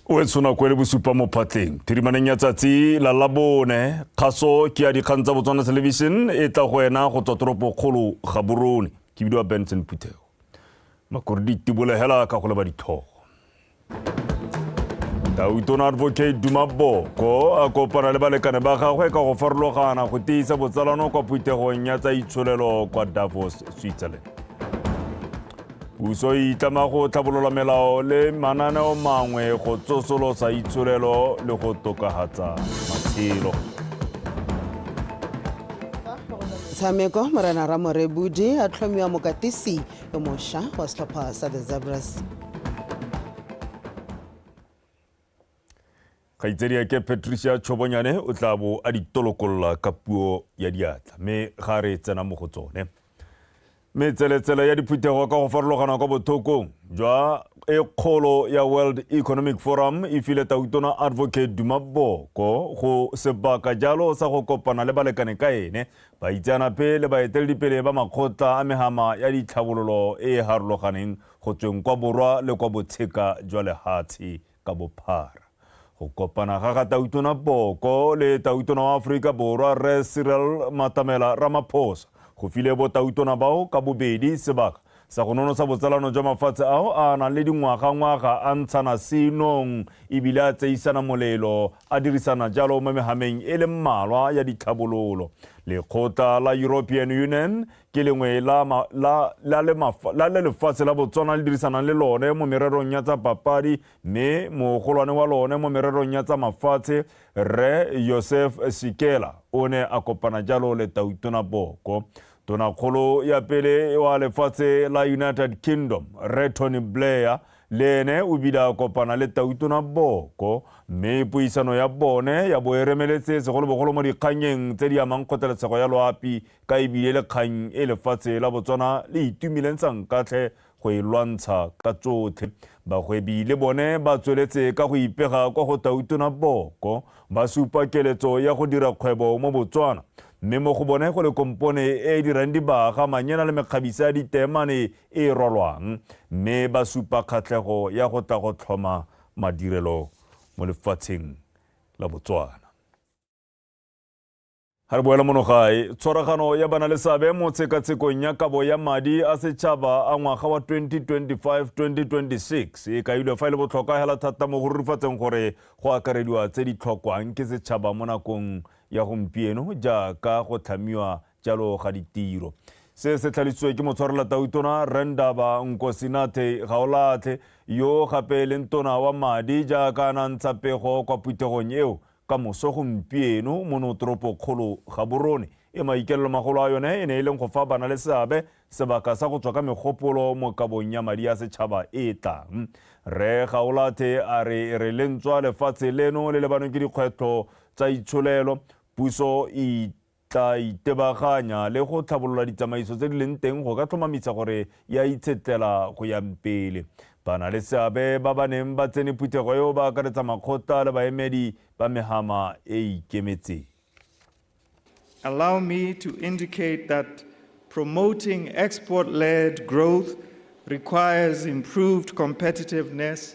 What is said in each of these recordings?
o e tshona ko le bosupa mo phatleng phirimaneng ya tsatsi la labone kgaso ke ya dikgang tsa botswana television e tla go ena go tswa toropokgolo ga borone ke bidiwa benson phuthego Makore di tibole hela ka go leba ditlhogo. Tautona Advocate Duma Boko a kopana le balekane ba gagwe ka go farologana go tiisa botsalano kwa phuthegong ya tsa itsholelo kwa Davos, Switzerland. Puso e itlama go tlhabolola melao le mananeo mangwe go tsosolosa itsholelo le go tokahatsa matshelo. Tshameko Morena Ramorebudi a tlhomiwa mokatisi yo mosha wa setlhopha sa the zebras kgaitsedi ake patricia tšhobonyane o tla bo a ditolokolola ka puo ya diatla mme ga re tsena mo go tsone metseletsele ya diphuthego ka go farologana kwa bothokong jwa e kgolo ya world economic forum e file tautona advocate dumaboko go sebaka jalo sa go kopana le balekane ka ene Baitseanape le baeteledipele ba makgotla a megama ya ditlhabololo e e harologaneng go tsweng kwa borwa le kwa botsheka jwa lehatshe ka bophara. Go kopana ga ga Tautona Boko le Tautona wa Aforika Borwa Rre Cyril Matamela Ramaphosa go file botautona bao ka bobedi sebaka Sa go nonotsha botsalano jwa mafatshe ao a nang le dingwagangwaga a ntshana senong e bile a tseisana molelo a dirisana jalo mo megameng e le mmalwa ya ditlhabololo. Lekgotla la European Union ke lengwe la, ma, la, la, le mafa, la le lefatshe la Botswana le dirisanang le lone mo mererong ya tsa papadi mme mogolwane wa lone mo mererong ya tsa mafatshe Rre Joseph Sikela o ne a kopana jalo le Tautona Boko. Tonakgolo ya pele wa lefatshe la United Kingdom, Rre Tony Blair, le ene o bile a kopana le Tautona Boko mme puisano ya bone ya bo e remeletse segolobogolo mo dikganyeng tse di amang kgothaletsego ya loapi ka ebile le kgang e lefatshe la Botswana le itumeleng sankatlhe go e lwantsha ka tsotlhe. Bagwebi le bone ba tsweletse ka go ipega kwa go Tautona Boko, ba supa keletso ya go dira kgwebo mo Botswana, mme mo go bone go le kompone e e dirang dibaga, manyena le mekgabisa ya diteemane e e rwalwang, mme ba supa kgatlhego ya go tla go tlhoma madirelo mo lefatsheng la Botswana. ga re boela mono gae tshwaragano ya bana le seabe mo tshekatshekong ya kabo ya madi a setšhaba a ngwaga wa 2025-2026 e kailwe fa e le botlhokwa hela thata mo go rurifatseng gore go akarediwa tse di tlhokwang ke setšhaba mo nakong ya gompieno jaaka go tlhamiwa jalo ga ditiro se se tlhalisiwe ke motshwarela tautona rendaba nkosinathe gaolatlhe yo gape e leng tona wa madi jaaka a nantsha pego kwa phuthegong eo Ka moso gompieno mo notoropokgolo Gaborone e maikeelelomagolo a yone e ne e leng go fa banaleseabe sebaka sa go tswa ka megopolo mo kabong ya madi a setšhaba e e tlang. Rre Gaolathe a re e re le ntswa lefatshe leno le lebanwe ke dikgwetlho tsa itsholelo, puso e tla itebaganya le go tlhabolola ditsamaiso tse di leng teng go ka tlhomamisa gore e a itshetlela go ya pele. Ba na le seabe ba ba neng ba tsene phuthego eo ba akaretsa makgotla le baemedi ba megama e e ikemetseng. Allow me to indicate that promoting export-led growth requires improved competitiveness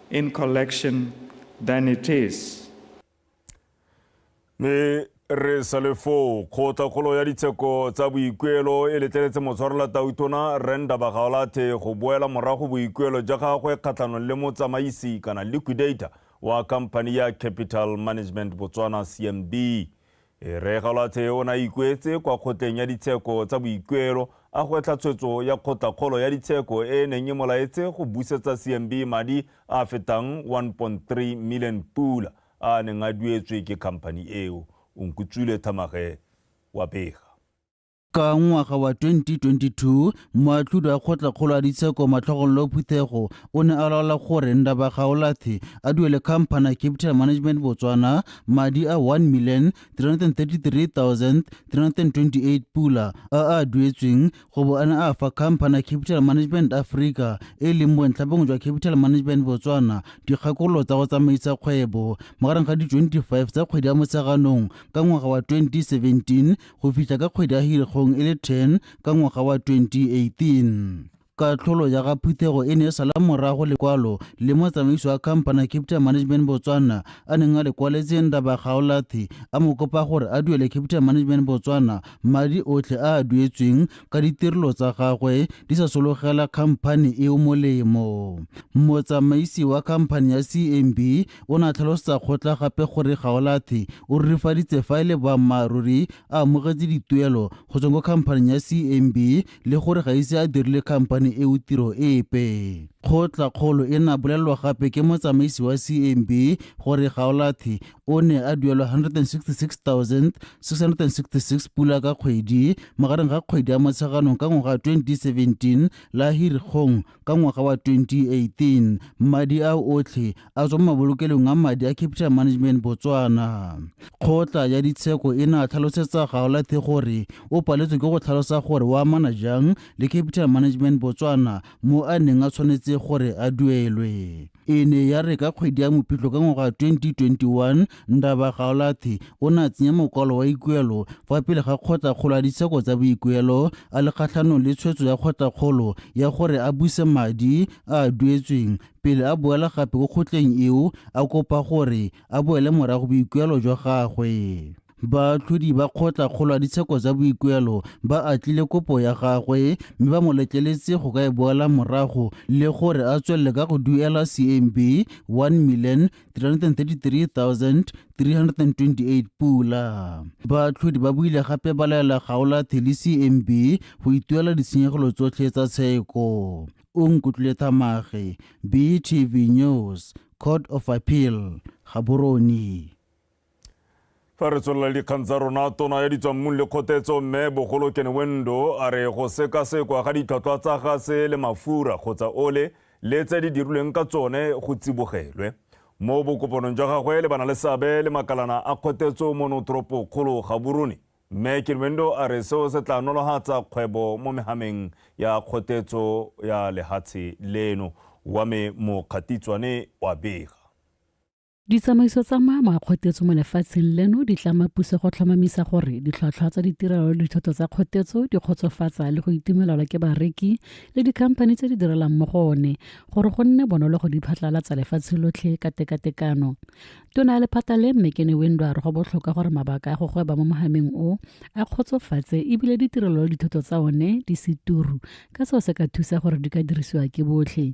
in collection than it is. Mme re sa le foo, kgotlakgolo ya ditsheko tsa boikuelo e letleletse motshwarela tautona Rre Ndabagaolathe go boela morago boikuelo jwa gagwe kgatlhanong le motsamaisi kana liquidator wa khamphani ya Capital Management Botswana, CMB. E re Galwathe o ne a ikuetse kwa kgotleng ya ditsheko tsa boikuelo a gwetlha tshwetso ya kgotlakgolo ya ditsheko e e neng e mo laetse go busetsa CMB madi a a fetang 1.3 million pula a a neng a duetswe ke khamphani eo. Onkutswile Thamagewa Pega. Ka ngwaga wa 2022, moatlhodi wa kgotlakgolo a ditsheko Matlhogololo Phuthego o ne a laola gore Ndaba Gaolathe a duele khamphana ya Capital Management Botswana madi a 1 million 333 328 pula a a duetsweng go bo a ne a fa khamphana ya Capital Management Africa e leng bontlha bongwe jwa Capital Management Botswana dikgakololo tsa go tsamaisa kgwebo magareng ga di 25 tsa kgwedi ya Motsheganong ka ngwaga wa 2017 go fitlha ka kgwedi ya Hirigong e le 10 ka ngwaga wa 2018. Katlholo ya ga phuthego e ne e sala morago lekwalo le motsamaiso wa khampana Capita Management Botswana a neng a le kwaletse Ndaba Gaolathi a mo kopa gore a duele Capita Management Botswana madi otlhe a a duetsweng ka ditirelo tsa gagwe di sa sologela khamphani eo molemo. Motsamaisi wa khamphani ya CMB o ne a tlhalosetsa kgotla gape gore Gaolathe o rurifaditse fa e le boammaaruri a amogetse dituelo go tsweng ko khamphaning ya CMB le gore ga ise a dirile khamphani eo tiro epe. Kgotla kgolo e na bolelelwa gape ke motsamaisi wa CMB gore Gaolathe o ne a duelwa 166 666 pula ka kgwedi magareng ga kgwedi ya Motsheganong ka ngwaga wa 2017 la Hirikgong ka ngwaga wa 2018. Madi a otlhe a tswa mo mabolokelong a madi a Capital Management Botswana. Kgotla ya ditsheko e ne a tlhalosetsa Gaolathe gore o paletswe ke go tlhalosa gore o amana jang le Capital Management Botswana mo a neng a tshwanetse gore a duelwe. e ne ya re ka kgwedi ya mopitlo ka ngwaga 2021 ndaba gaolathi o ne a tsenya mokwalo wa ikuelo fa pele ga kgotlakgolo ya ditsheko tsa boikuelo a le kgatlhanong le tshwetso ya kgotlakgolo ya gore a buse madi a a duetsweng pele a boela gape ko kgotleng eo a kopa gore a boele morago boikuelo jwa gagwe Baatlhodi ba kgotla kgolo ya ditsheko tsa boikuelo ba atlile kopo ya gagwe mme ba mo letleletse go ka e boela morago le gore a tswelele ka go duela CMB 1,333,328 pula. Baatlhodi ba buile gape ba laela Gaola Theli CMB go ituela ditshenyegelo tsotlhe tsa tsheko. O nkutlwile thamage, BTV News, Court of Appeal, Gaborone. Fa re tswelela dikgang tsa rona, tona ya ditswammung le kgotetso Mme Bogolo Kenewendo a re go sekasekwa ga ditlhwatlhwa tsa gase le mafura kgotsa ole le tse di dirilweng ka tsone go tsibogelwe. Mo bokopanong jwa gagwe le bana le seabe le makalana a kgotetso mo notoropokgolo Gaborone, Mme Kenewendo a re seo se tla nolohatsa kgwebo mo mehameng ya kgotetso ya lehatshe leno. Wa me Mokgatitswane wa bega. Ditsamaiso tsa maamo a kgotetso mo lefatsheng leno di tlama puso go tlhomamisa gore ditlhwatlhwa tsa ditirelo le dithoto tsa kgotetso di kgotsofatsa le go itumelelwa ke bareki le dikhamphani tse di direlang mo go one gore go nne bonolo go di phatlalatsa lefatshe lotlhe ka tekatekano. Tona ya lephata le Mme Kene Windo a re go botlhokwa gore mabaka a go gweba mo mogameng o a kgotsofatse ebile ditirelo le dithoto tsa one di se turu ka seo se ka thusa gore di ka dirisiwa ke botlhe.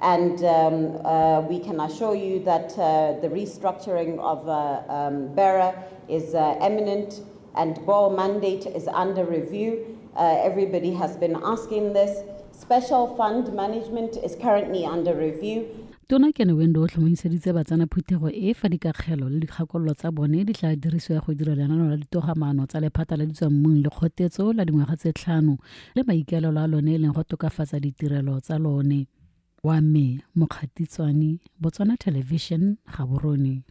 And um, uh, we can assure you that uh, the restructuring of uh, um, BERA is uh, eminent and BOR mandate is under review. Uh, everybody has been asking this. Special fund management is currently under review. tona kene wendo o tlhomamiseditse batsana phuthego e fa dikakgelo le dikgakololo tsa bone di tla dirisiwa go dira lenano la ditogamaano tsa lephata la ditswammung le kgotetso la dingwaga tse tlhano le maikaelelo a lone e leng go tokafatsa ditirelo tsa lone wa me mokgatitswane botswana television ga borone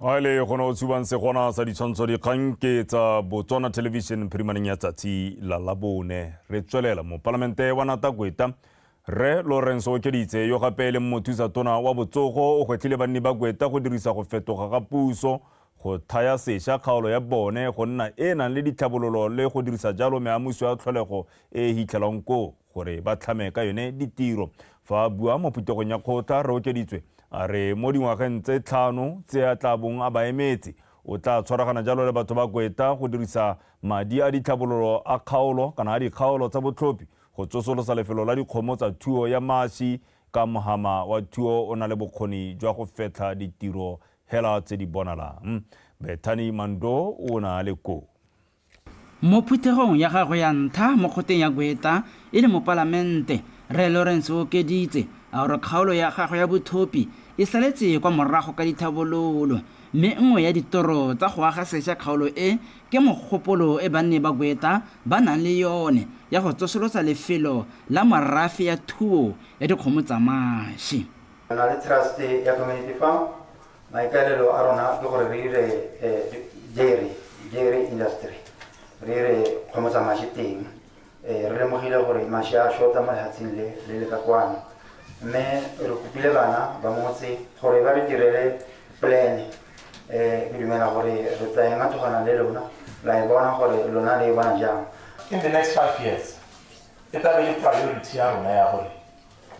a e le gone o tshubang segona sa ditshwantsho dikgang ke tsa botswana television phirimaneng ya tsatsi la labone re tswelela mopalamente wa natakweta Rre Lawrence Okeditse, yo gape e leng mothusa tona wa botsogo, o gwetlhile banni ba Kweta go dirisa go fetoga ga puso go thaya sesha kgaolo ya bone go nna e e nang le ditlhabololo le go dirisa jalo meamuso ya tlholego e e hitlhelwang koo gore ba tlhame ka yone ditiro. Fa a bua mo phuthegong ya kgotla, Rre Okeditswe a re mo dingwageng tse tlhano tse a tla bong a ba emetse, o tla tshwaragana jalo le batho ba Kweta go dirisa madi a ditlhabololo a kgaolo kana a dikgaolo tsa botlhophi Go tsosolosa lefelo la dikgomo tsa thuo ya mashi ka mohama wa thuo o na le bokgoni jwa go fetlha ditiro hela tse di bonalang. Bethany Mando o ne a le koo. Mo phuthegong ya gagwe ya ntlha mo kgoteng ya Gweta e le mopalamente, Rre Lawrence o okeditse a gore kgaolo ya gagwe ya Bothopi e saletse kwa morago ka ditlhabololo mme nngwe ya ditoro tsa go aga sesha kgaolo e Ke mogopolo e banne ba Gweta ba nang le yone ya go tsosolotsa lefelo la morafe ya thuo ya dikgomo tsa mashi. Re na le Trust ya Community Farm, maikaelelo a rona ke gore re dire dairy industry, re dire kgomo tsa mashi teng. Ee, re lemogile gore mashe a shota mo lehatsheng le le le ka kwano mme re kopile bana ba motse gore ba re direle polene um ke dumela gore re tla ema togana le lona la e bona gore lona le e bona jang in the next five years e tla be le priority ya rona ya gore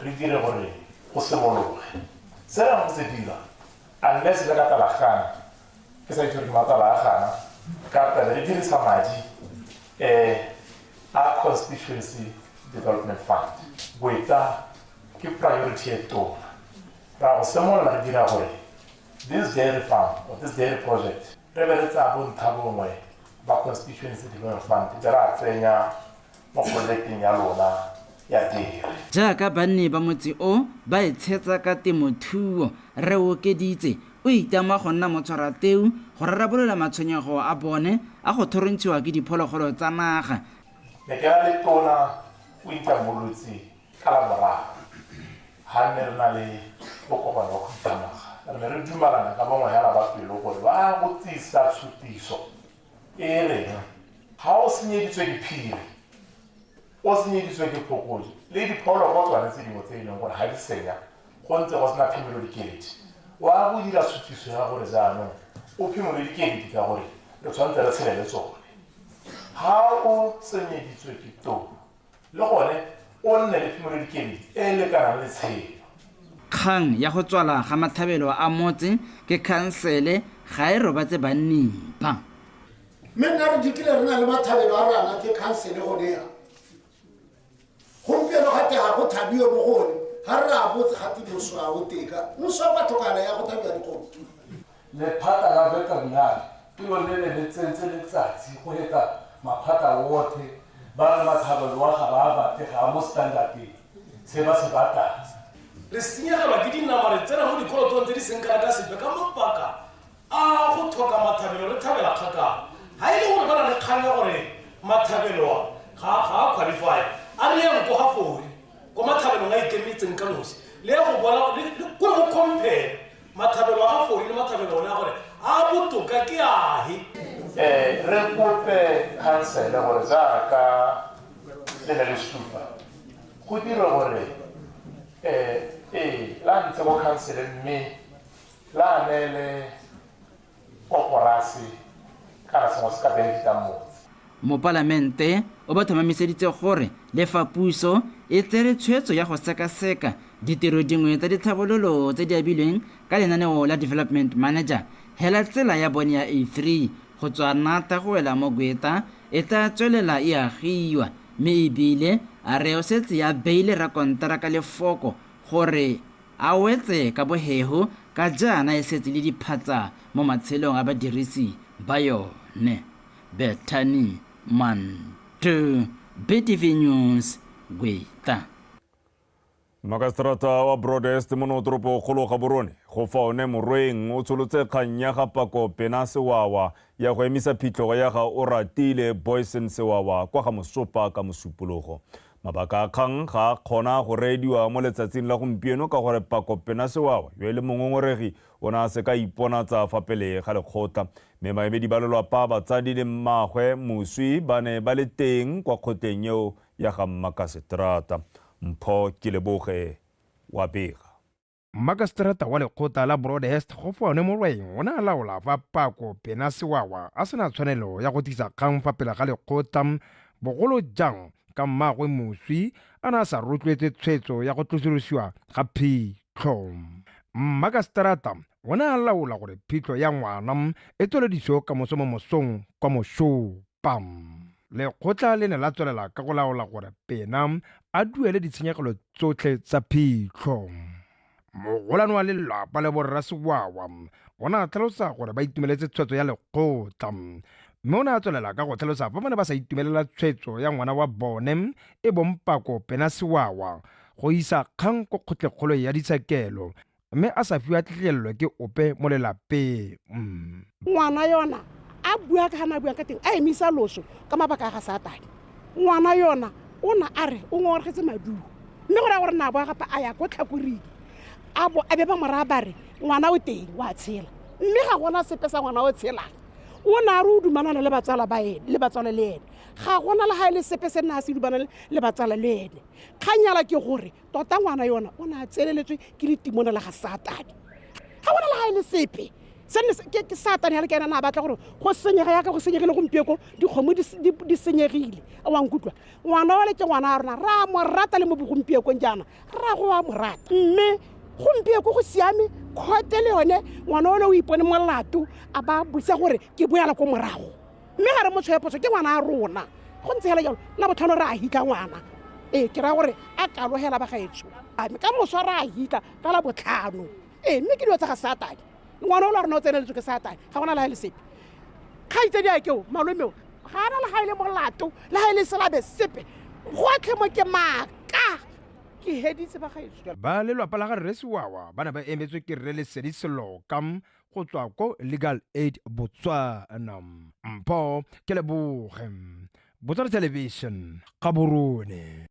re dire gore go simologe se ra go se dira unless le ka talagana ke sa itse gore ke matsala a gana ka pele re dirisa madi um a constituency development fund boeta ke priority e tona ra go simolola re dira gore this dairy farm or this dairy project re be re tsaya bontlha bongwe ba constituency development fund be ra tsenya mo pololeting ya lona ya diri. Jaaka banni ba motse o ba itshetsa ka temothuo, Rre Okeditse o itama go nna motshwarateu go rarabolola matshwenyego a bone a go thorontshiwa ke diphologolo tsa naga. Ne ke na le tona o itamolotse ka Laboraro ha nne re na le bokopano wa khuduthamaga. Re ne re dumalana ka bongwenyana ba pelo gore ba go tsisa tshutiso e reng ga o senyeditswe ke phiri o senyeditswe ke phokodi le diphologolo tsone tse dingwe tse e leng gore ga di senya go ntse go sena phimolo dikeledi wa go dira suthiso ya gore jaanong o phimole dikeledi ka gore re tshwanetse re tshele le tsone ga o tsenyeditswe ke too Le gone o nne le phimolodikedi e e lekanang le tshelo. Kgang ya go tswala ga mathabelo a motse ke khansele ga e robatse banning ba. Mme nna re dikile re na le mathabelo a rana ke khansele gone yana. Gompieno ga te ga go thabiwe mo go one, ga re re a botse ga te moswa o teka, moswa kwa tlhokagala ya go thabiwa dikgomo. Lephata la Veterinary ke lone le ne le tsentse letsatsi go heta maphata otlhe, ba re Mathaba loa ga ba a batle, ga a mo standard-eng se ba se batang. Re senyegelwa ke dinama, re tsena mo dikolotong tse di seng kana ka sepe ka mabaka a go tlhoka Mathabelo re thabela kgakala, ga e le gore ba na le kgang ya gore Mathabelo a ga a qualify-a, a re yang ko ga Fori, ko Mathabelong a ikemetseng ka nosi, le ya go boela ko le ko le go compare Matlhabelo a fori le matlhabelo one a gore a botoka ke ahe. Eh, re kope khansele gore jaaka le ne le supa go dire gore eh, ee la ntse mo khansele mme la neele koporase kana sengwe se ka benefitang motse. Mopalamente o ba thomamiseditse gore le fa puso e tsere tshwetso ya go sekaseka ditiro dingwe tsa ditlhabololo tse di abilweng ka lenaneo la Development Manager, hela tsela ya bone ya A3 go tswa Nata go wela mo Gweta e tla tswelela e agiwa mme e bile a re o setse a beile rakonteraka lefoko gore A wetse ka bohego ka jaana e setse le diphatsa mo matshelong a badirisi ba yone. Bethany Mantu, BTV News, Gweta. Makaseterata wa Broadest mono toropokgolo Gaborone go fa one Morweng o tsholotse kgang ya ga Pako Pena Sewawa ya go emisa phitlhogo ya ga Oratile Boysen Sewawa kwa ga Mosopa ka Mosupologo. Mabaka a kgang ga a kgona go reediwa mo letsatsing la gompieno ka gore Pako Pena Sewawa, yo e leng mongongoregi, o ne a se ka a iponatsa fa pele ga lekgotla. Mme baemedi ba lelwapa, batsadi le mmaagwe moswi ba ne ba le teng kwa kgotleng eo ya ga mmakaseterata. Mpho Keleboge wa bega. Mmakaseterata wa lekgotla la Broadhurst Kgofone Morweng o ne a laola fa Pako Pena Sewawa a sena tshwanelo ya go tlisa kgang fa pele ga lekgotla, bogolo jang ka mmaagwe moswi a ne a sa rotloetse tshwetso ya go tlosolosiwa ga phitlho. Mmakaseterata o ne a laola gore phitlho ya ngwana e tswelediso kamoso mo mosong kwa Moshopa. Lekgotla le ne la tswelela ka go laola gore Pena a duele ditshenyegelo tsotlhe tsa phitlho. Mogolwane wa lelapa le borra Sewawa o ne a tlhalosa gore ba itumeletse tshwetso ya lekgotla mme o ne a tswelela ka go tlhalosa fa ba ne ba sa itumelela tshwetso ya ngwana wa bone e bong Pako Pena Sewawa go isa kgang ko kgotlekgolo ya ditshekelo mme a sa fiwa tlhegelelo ke ope mo lelapeng. Ngwana yona a bua ka ga na buang ka teng a emisa loso ka mabaka a ga Satane. Ngwana yona o na a re o ngongorgetse maduo mme go raya gore na boa gape a ya ko tlhakoring a bo a be ba moraya ba re ngwana o teng wa tshela mme ga gona sepe sa ngwana o tshelang o ne a re o dumalana le batsala ba ene le batsala le ene ga gona le ga e le sepe se nna a se dumalane le batsala le ene kganyala ke gore tota ngwana yona o ne a tseleletswe ke letimona la ga satane ga gona le ga e le sepe ke satane ya le kena na batla gore go senyega yaka go senyegile gompieko dikgomo di senyegile a wa nkutlwa ngwana wa le ke ngwana a rona re a mo rata le mo bogompiekong jaana re a go wa mo rata mme gompieko go siame kgote le yone ngwana o le o ipone molato a ba bosa gore ke boela ko morago mme ga re mo tshweye phoso ke ngwana a rona go ntse fela jalo la botlhano re a hika ngwana ee ke raya gore a kalogela ba gaetsho ame ka moswa re a hika ka la botlhano ee mme ke dilo tsa ga satane ngwana o la rona o tseneletswe ke satane ga gona le ga e le sepe kgaitsedi a keo malomeo ga ana le ga e le molato le ga e le selabe sepe gotlhe mo ke maaka ke heditse ba gaetsho ba lelwapa la ga rre siwawa ba ne ba emetswe ke rre lesedi selokam go tswa ko legal aid botswana mpho ke leboge botswana television ga borone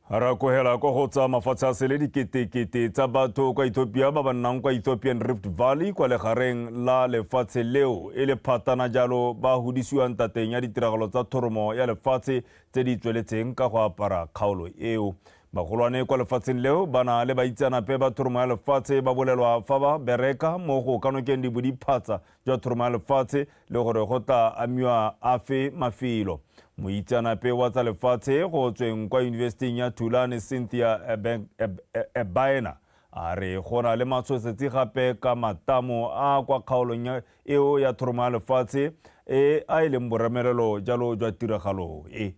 ra kogela kwa go tsa mafatshe a sele diketekete tsa batho kwa ethiopia ba ba nnang kwa ethiopian rift valley kwa legareng la lefatshe leo e le phatana jalo ba godisiwang tateng ya ditiragalo tsa thoromo ya lefatshe tse di tsweletseng ka go apara kgaolo eo. Bagolwane kwa lefatsheng leo ba na le baitsanape ba thoromo ya lefatshe ba bolelwa fa ba bereka mo go ka nokeng dibodiphatsa jwa thoromo ya lefatshe le gore go tla amiwa afe mafelo. Moitsanape wa tsa lefatshe go tsweng kwa yunibesiting ya Tulane Cynthia Ebaena a re go na le matshosetsi gape ka matamo a kwa kgaolong eo ya thoroma ya lefatshe e a e leng boramerelo jalo jwa tiragalo e.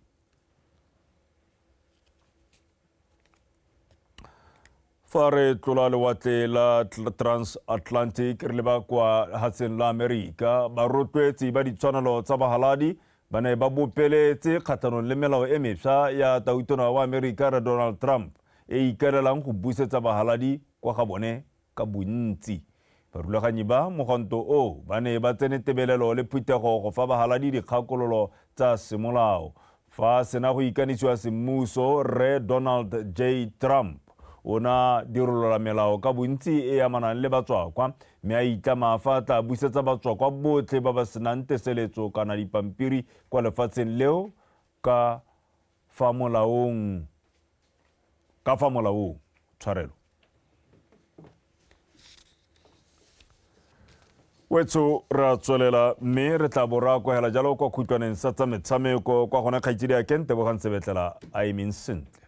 fa re tlola lewatle la transatlantic re leba kwa hatseng la amerika barotloetsi ba ditshwanelo tsa bahaladi ba ne ba bopeletse kgatlhanong le melao e mefsa ya tautona wa amerika re donald trump e ikalelang go busetsa bahaladi kwa ga bone ka bontsi. Barulaganyi ba mogwanto o ba ne ba tsene tebelelo le phuthego go fa bahaladi dikgakololo tsa semolao. Fa sena go ikanisiwa semmuso, Rre Donald J. Trump o na dirolola melao ka bontsi e amanang le batswakwa mme a itlama fa a tla busetsa batswakwa botlhe ba ba senang teseletso kana dipampiri kwa lefatsheng leo ka Fa molaong, ka fa molaong, tshwarelo. Wetso re a tswelela mme re tla bo ra kwagela jalo kwa khutlwaneng sa tsa metshameko kwa gone kgaitsedi a kentebogang sebetlela a emeng sentle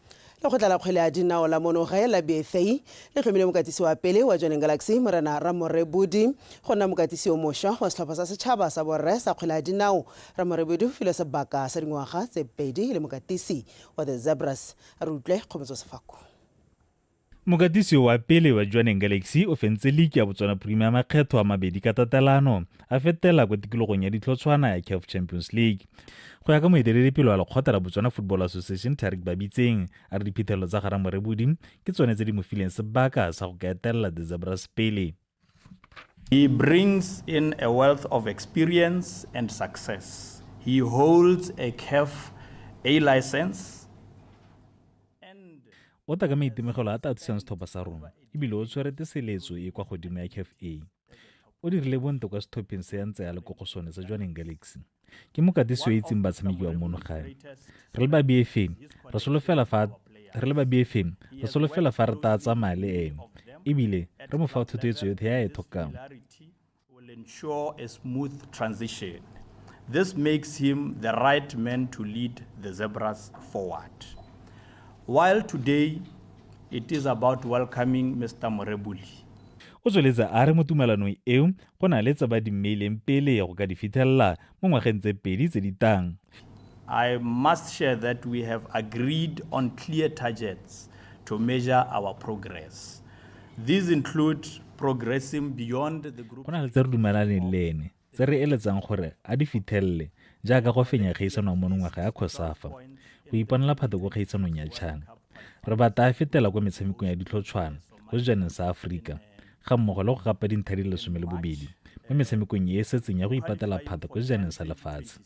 Lekgotla la kgwele ya dinao la mono gae la Bethei le tlhomile mokatisi wa pele wa Joining Galaxy, Morena Ramore Budi, go nna mokatisi yo mošwa wa setlhopha sa setšhaba sa borre sa kgwele ya dinao. Ramore Budi o filwe sebaka sa dingwaga tse pedi e le mokatisi wa The Zebras. Re utlwe kgomotso Sefako. Mokatisi wa pele wa Jwaneng Galaxy o fentse liki ya Botswana Premier makgetho a mabedi ka tatelano a fetela kwa tikologong ya ditlhotshwana ya CAF Champions League. Go ya ka moeteledipele wa lekgotla la Botswana Football Association Tarik Babitseng, a re diphitlhelelo tsa Garamorebodi ke tsone tse di mo fileng sebaka sa go ka etelela The Zebras pele. He brings in a wealth of experience and success. He holds a CAF A license o tla ka maitemogelo a tla thusang setlhopha sa rona ebile o tshwerete seletso e kwa godimo ya caf a o dirile bontle kwa setlhopheng se ya ntse ya le ko go sone sa jwaneng galaxy ke mokatisi yo itseng batshameki ba mono gae re le babeefeng re solofela fa re le babeefeng re solofela fa re taa tsamaya le ene ebile re mo fa thothoetso yotlhe ya e tlhokang This makes him the right man to lead the Zebras forward. While today it is about welcoming Mr. Morebuli, o tsweletse a re mo tumalanong eo go na le tse ba di mmeileng pele go ka di fithelela mo ngwageng tse pedi tse di tang. I must share that we have agreed on clear targets to measure our progress. These include progressing beyond the group. Go na le tse re dumelaneng le ene tse re eletsang gore a di fitlhelele jaaka go fenya kgaisano ya monongwaga ya Khosafa, go iponela phato ko kgaisanong ya China, Re batla a fetela kwa metshamekong ya ditlhotshwana go sejaneng sa Aforika ga mmogo le go gapa dinthadi lesome le bobedi mo metshamekong e e setseng ya go ipatela phata kwa sejaneng sa lefatshe.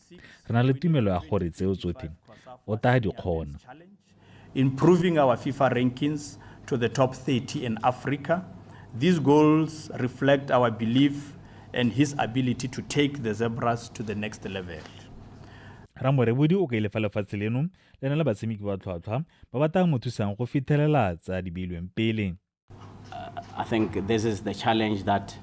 Re na le tumelo ya gore tseo tsotlhe o taa di kgona. Improving our FIFA rankings to the top 30 in Africa, these goals reflect our belief in his ability to take the Zebras to the next level. Ramorebodi o kaile fa lefatshe leno le na le batshameki ba tlhwatlhwa ba ba tang mo thusang go fithelela tsa di beilweng pele I think this is the challenge that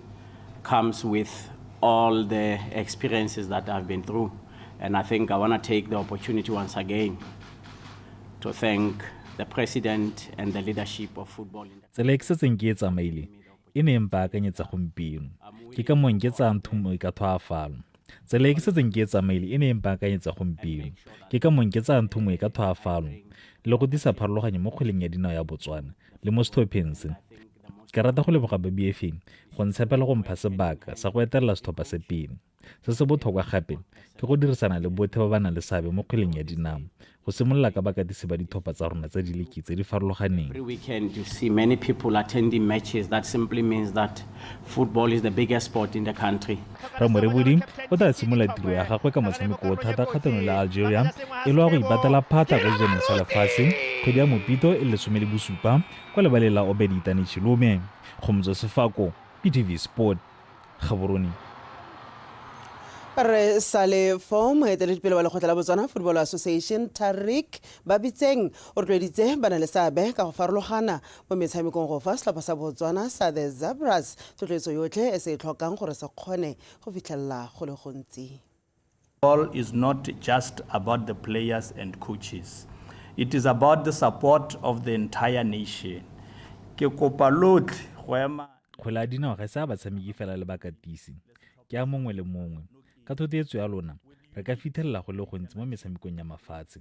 comes with all the experiences that I've been through. And I think I want to take the opportunity once again to thank the president and the leadership of football. Tsela e ke setseng ke e tsamaile e ne e mpaakanyetsa gompieno ke ka mong ke tsayang thumo e ka thwaafalo tsela e ke setseng ke e tsamaile e ne e mpaakanyetsa gompieno ke ka mong ke tsayang thumo e ka thwaafalo le go disa pharologanyo mo kgweleng ya dinao ya botswana le mo setlhopheng se ke rata go leboga babf go ntshepela go mpha sebaka sa go etelela setlhopha se pele Se se botlhokwa gape ke go dirisana le botlhe ba ba nang le seabe mo kgweleng ya dinao, go simolola ka bakatisi ba ditlhopha tsa rona tsa diliki tse di farologaneng. Rre Morebodi o tla simolola tiro ya gagwe ka motshameko o thata kgatlhanong le Algeria e le wa go ibatela phatla kwa dijaneng sa lefatshe kgwedi ya Mopito e le lesome le bosupa kwa lebaleng la Obed Itane Chilume. Kgomotso Sefako, PTV Sport. Gaborone. re sale fo moeteledipele wa lekgotla la botswana football association tarric ba bitseng o rotloeditse ba na le seabe ka go farologana mo metshamekong go fa setlhopha sa botswana sa the zabras tlotloetso yotlhe e se e tlhokang gore se kgone go fitlhelela go le gontsi Football is not just about the players and coaches. It is about the support of the entire nation. Ke kopa lotlhe go ema kgwele ya dinao ga se a batshameki fela le bakatisi ke a mongwe le mongwe ka thothetso ya lona re ka fithelela go le gontsi mo metshamekong ya mafatshe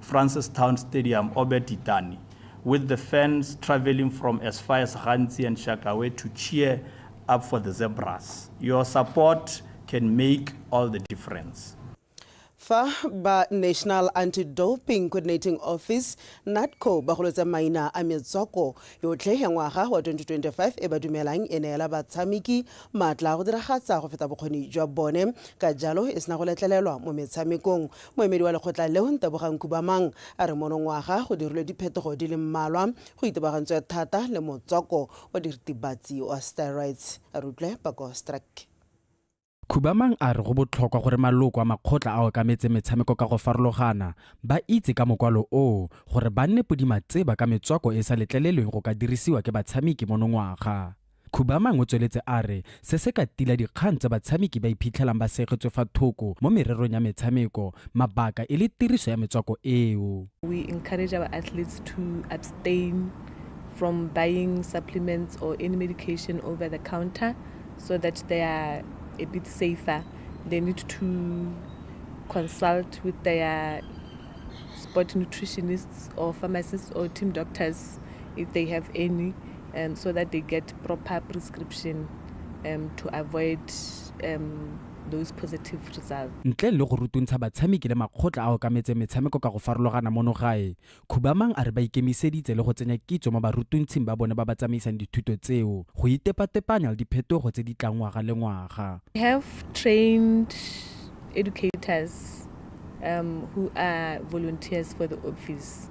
Francistown Stadium, Obert Itani, with the fans travelling from as far as Ghanzi and Shakawe to cheer up for the Zebras. Your support can make all the difference. fa ba national anti-doping coordinating office natco ba golotsa maina a metswako yotlhe ya ngwaga wa 2025 e ba dumelang e neela batshameki maatla a go diragatsa go feta bokgoni jwa bone ka jalo e sena go letlelelwa mo metshamekong Moemedi wa lekgotla leo, Ntebogang Khubamang, a re monongwaga go dirilwe diphetogo di le mmalwa go itebagantswe thata le motswako wa diritibatsi wa steroids. A re utlwe pako Streck. Khubamang a re go botlhokwa gore maloko a makgotla a okametseng metshameko ka go farologana ba itse ka mokwalo oo gore ba nne podimatseba ka metswako e e sa letlelelweng go ka dirisiwa ke batshameki monongwaga. Khubamang o tsweletse a re se se ka tila dikgang tse batshameki ba iphitlhelang ba segetswe fa thoko mo mererong ya metshameko mabaka e le tiriso ya metswako eo. We encourage our athletes to abstain from buying supplements or any medication over the counter so that they are a bit safer. They need to consult with their sport nutritionists or pharmacists or team doctors if they have any um, so that they get proper prescription um, to avoid um, those positive results. ntle le go rutuntsha batshameki le makgotla a okametseng metshameko ka go farologana mono gae khubamang a re ba ikemiseditse le go tsenya kitso mo barutuntshing ba bone ba ba tsamaisang dithuto tseo go itepatepanya le diphetogo tse di tlang ngwaga le ngwaga We have trained educators um, who are volunteers for the office.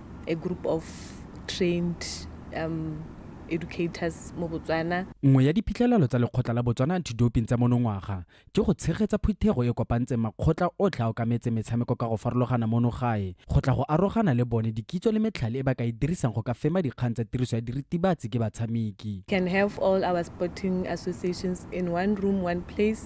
a group of trained um educators mo Botswana. Nngwe ya diphitlhelelo tsa lekgotla la Botswana Anti-Doping tsa monongwaga ke go tshegetsa phuthego e kopantseng makgotla otlhe a okametseng metshameko ka go farologana mono gae go tla go arogana le bone dikitso le metlhale e ba ka e dirisang go ka fema dikgang tsa tiriso ya diritibatsi ke batshameki. Can have all our sporting associations in one room, one place.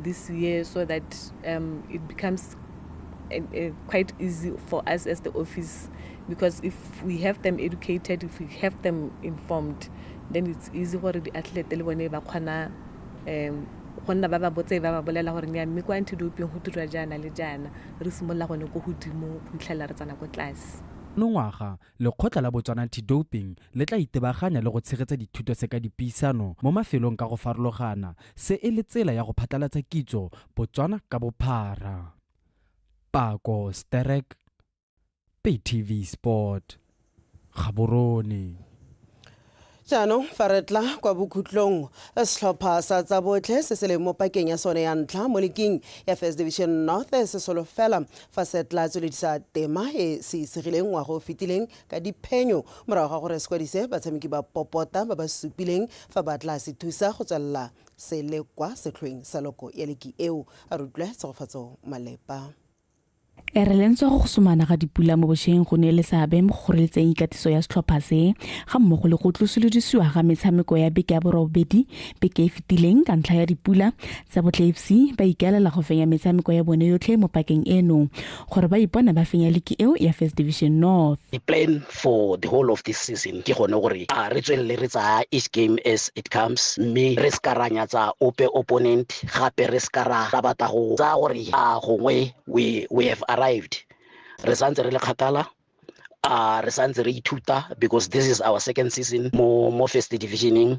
this year so that um, it becomes uh, uh, quite easy for us as the office because if we have them educated, if we have them informed, then it's easy for the athlete le bone ba kgona um go nna ba ba botse ba ba bolela gore nya mme kwa antidoping go dirwa jaana le jaana re simolola gone ko godimo go fitlhelela re tsana ko tlase monongwaga Lekgotla la Botswana Anti-Doping le tla itebaganya le go tshegetsa dithuto tse ka dipuisano mo mafelong ka go farologana, se e le tsela ya go phatlalatsa kitso Botswana ka bophara. Pako Sterek, PayTv Sport, Gaborone. Jaanong fa re tla kwa bokhutlong, setlhopha sa tsa botlhe se se leng mo pakeng ya sone ya ntlha mo liking ya First Division North se solofela fa se tla tsweledisa tema e se isegileng ngwaga o fetileng ka diphenyo morago ga gore se kwadise batshameki ba popota ba ba supileng fa ba tla se thusa go tswelela se le kwa setlhoeng sa loko ya liki eo. A re utlwe Tshegofatso Malepa. E re lentswe go gosomana ga dipula mo bosheng go ne le seabe mo go kgoreletseng ikatiso ya setlhopha se ga mmogo le go tlosolodisiwa ga metshameko ya beke ya borobedi beke e fetileng ka ntlha ya dipula tsa botle fc ba ikaelela go fenya metshameko ya bone yotlhe mo pakeng eno gore ba ipone ba fenya liki eo ya first division north for the whole of this season ke gone gore a re tswelele re tsaya each game as it comes mme re se ka ra nyatsa ope opponent gape re se ka ra batla go tsaya gore a gongwe we, we have arrived re santse re le kgakala a re santse re ithuta because this is our second season mo mo first divisioning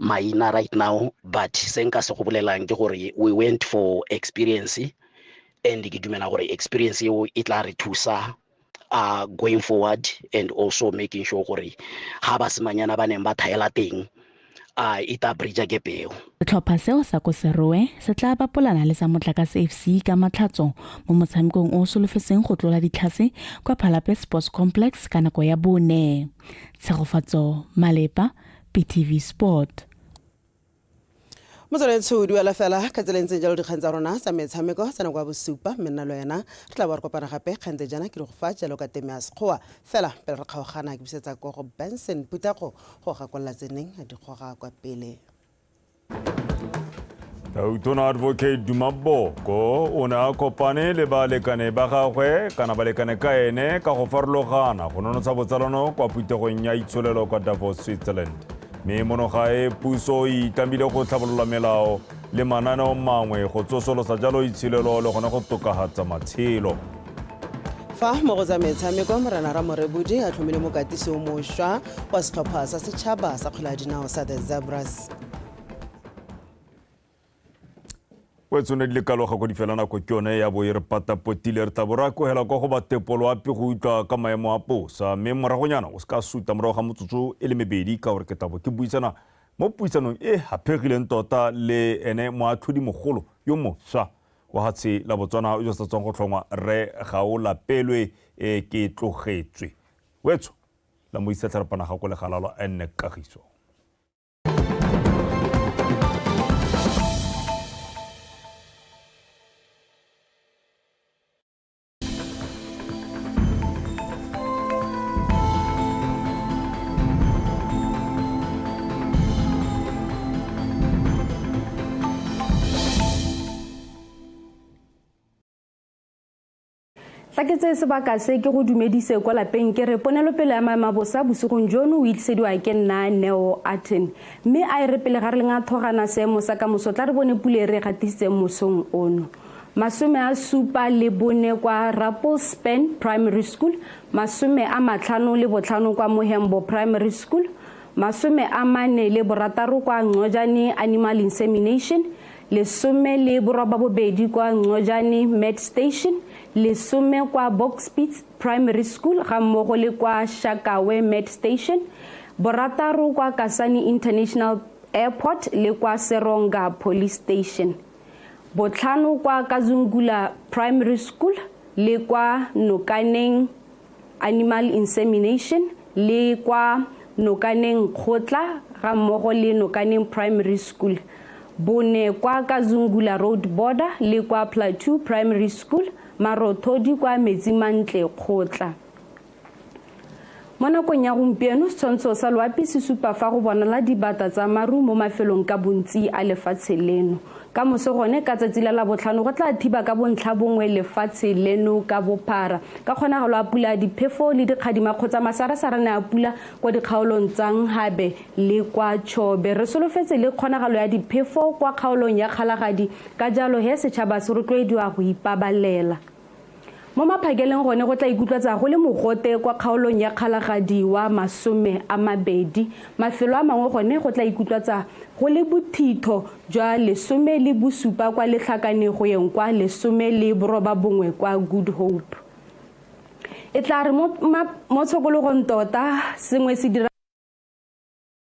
maina right now but se nka se go bolelang ke gore we went for experience and ke dumela gore experience eo e tla re thusa uh, going forward and also making sure gore ga basimanyana ba neng ba thaela teng a uh, e tla bridge ke peo setlhopha seo sa ko seroe se tla bapolana le sa motlakase fc ka matlhatso mo motshamekong o solofetseng go tlola ditlhase kwa phalape sports complex ka nako ya bone tshegofatso malepa btv sport motswaledi tsho o duela fela ka tsela e ntseng jalo dikgang tsa rona tsa metshameko tsa nako ya bosupa mme nna le wena re tla bo re kopana gape kgante jana ke re go fa jalo ka teme ya sekgowa fela pele re kgaogana ke busetsa ko go benson putego go gakolola tseneng a dikgoga kwa pele tautona advocate dumaboko o ne a kopane le balekane ba gagwe kana balekane ka ene ka go farologana go nonotsha botsalano kwa phuthegong ya itsholelo kwa davos switzerland mme mono gae puso e itlamile go tlhabolola melao le mananeo mangwe go tsosolosa jalo itsholelo le gone go tokagatsa matshelo fa mo go tsa metshameko morena ramorebodi a tlhomile mokatisi o mošwa wa setlhopha sa setšhaba sa kgwele ya dinao sa the zebras o tsone di le kaloga ko di fela nako ke yone ya bo e re patapotile re tla bo ra kogela kwa go batepolo ape go utlwa ka maemo a posa mme moragonyana o se ka suta morago ga motsotso e le mebedi ka gore ke tabo ke buisana mo puisanong e haphegileng tota le ene moatlhodimogolo yo moswa Wahatshe la Botswana yo sa tswang go tlhongwa Rre Gaolapelwe e ke tlogetswe. Wetsho la mo isa tlharapanaga ko legalalo a nne kagiso. fa ke tseye sebaka se ke go dumedise kwa lapeng ke re ponelopele ya maemabosa bosigong jono o itlisediwa ke nna neo aten mme a e re pele ga re leng a thogana seemo sa ka moso tla re bone pule e re e gatisitseng mosong ono masome a supa le bone kwa Rappelspan Primary School, masome a matlhano le botlhano kwa Mohembo Primary School, masome a mane le borataro kwa Ngcojane Animal Insemination, lesome le borobabobedi kwa Ngcojane Med Station, lesome kwa Bokspeets Primary School ga mmogo le kwa Shakawe Med Station, borataro kwa Kasane International Airport le kwa Seronga Police Station. botlhano kwa kazungula primary school le kwa nokaneng animal insemination le kwa nokaneng kgotla ga mmogo le nokaneng primary school bone kwa kazungula road border le kwa plateau primary school marothodi kwa metsimantle kgotla Mo nakong ya gompieno, setshwantsho sa loapi se supa fa go bonala dibata tsa maru mo mafelong ka bontsi a lefatshe leno. Ka moso gone ka tsatsi la labotlhano go tla thiba ka bontlha bongwe lefatshe leno ka bophara. Ka kgonagalo a pula diphefo le dikgadima kgotsa masarasarane a pula kwa dikgaolong tsa Nghabe le kwa Chobe. Re solofetse le kgonagalo ya diphefo kwa kgaolong ya Kgalagadi ka jalo he setšhaba se rotloediwa go ipabalela. Mo maphakeleng gone go tla ikutlwatsa go le mogote kwa kgaolong ya Kgalagadi wa masome a mabedi. Mafelo a mangwe gone go tla ikutlwatsa go le bothitho jwa lesome le bosupa kwa Letlhakane go yeng kwa lesome le boroba bongwe kwa Good Hope. E tla re mo tshokologong tota sengwe se dira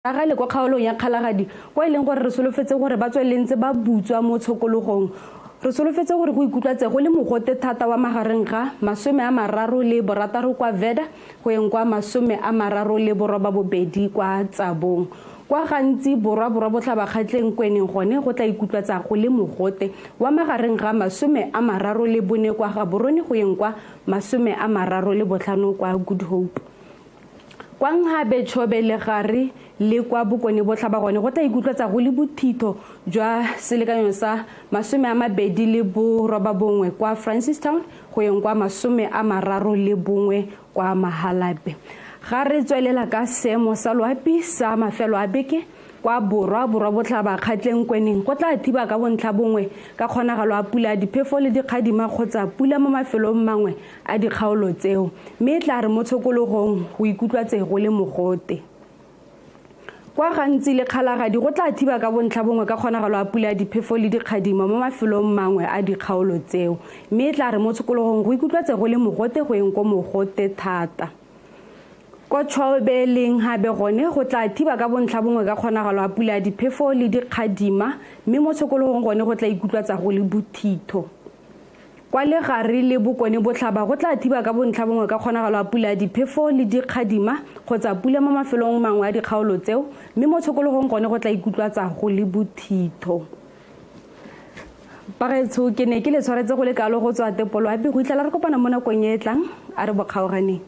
Ka gale kwa kgaolong ya Kgalagadi, kwa e leng gore re solofetse gore ba tswelele ntse ba butswa mo tshokologong, re solofetse gore go ikutlwatse go le mogote thata wa magareng ga masome a mararo le borataro kwa Vheda go yeng kwa masome a mararo le borobabobedi kwa Tsabong, kwa gantsi borwa-borwabotlhabakgatlheng ko e neng gone go tla ikutlwatsa go le mogote wa magareng ga masome a mararo le bone kwa Gaborone go yeng kwa masome a mararo le botlhano kwa Good Hope. Kwa Nkgabe, Chobe, Legare le kwa Bokone-Botlhaba gone go tla ikutlwetsa go le bothitho jwa selekanyo sa masome a mabedi le borobabongwe kwa Francistown go yeng kwa masome a mararo le bongwe kwa Mahalape. Ga re tswelela ka seemo sa loapi sa mafelo a beke, kwa Borwa, Borwa-Botlhaba, Kgatleng, Kweneng go tla thiba ka bontlhabongwe ka kgonagalo a pula ya diphefo le dikgadima kgotsa pula mo mafelong mangwe a dikgaolo tseo mme e tla re mo tshokologong go ikutlwa tse go le mogote kwa gantsi le kgalagadi go tla thiba ka bontlha bongwe ka kgonagalo a pula diphefo le dikgadimo mo mafelong mangwe a dikgaolo tseo mme e tla re mo tshokologong go ikutlwa tse go le mogote go eng ko mogote thata ko tšhwaobeleng gabe gone go tla thiba ka bontlha bongwe ka kgonagalo a pula diphefo le dikgadima mme mo tshokologong gone go tla ikutlwa tsa go le bothitho Kwa legare le bokone botlhaba go tla thiba ka bontlha bongwe ka kgonagalo ya pula ya diphefo le dikgadima kgotsa pula mo mafelong mangwe a dikgaolo tseo, mme mo tshokologong gone go tla ikutlwatsa go le bothitho. Bagaetsho, ke ne ke le tshwaretse go le kalo go tswa Tepolwapi go itlhela re kopana mo nakong e e tlang, a re bokgaoganeng.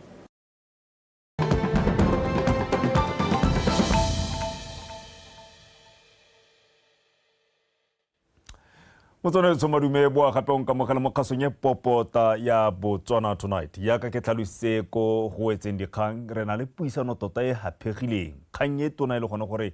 motswanetso madume boa gape o nkamogela mo kgasong e popota ya botswana tonight yaka ke tlhalositse ko go etseng dikgang re na le puisano tota e gaphegileng kgang e tona e le gone gore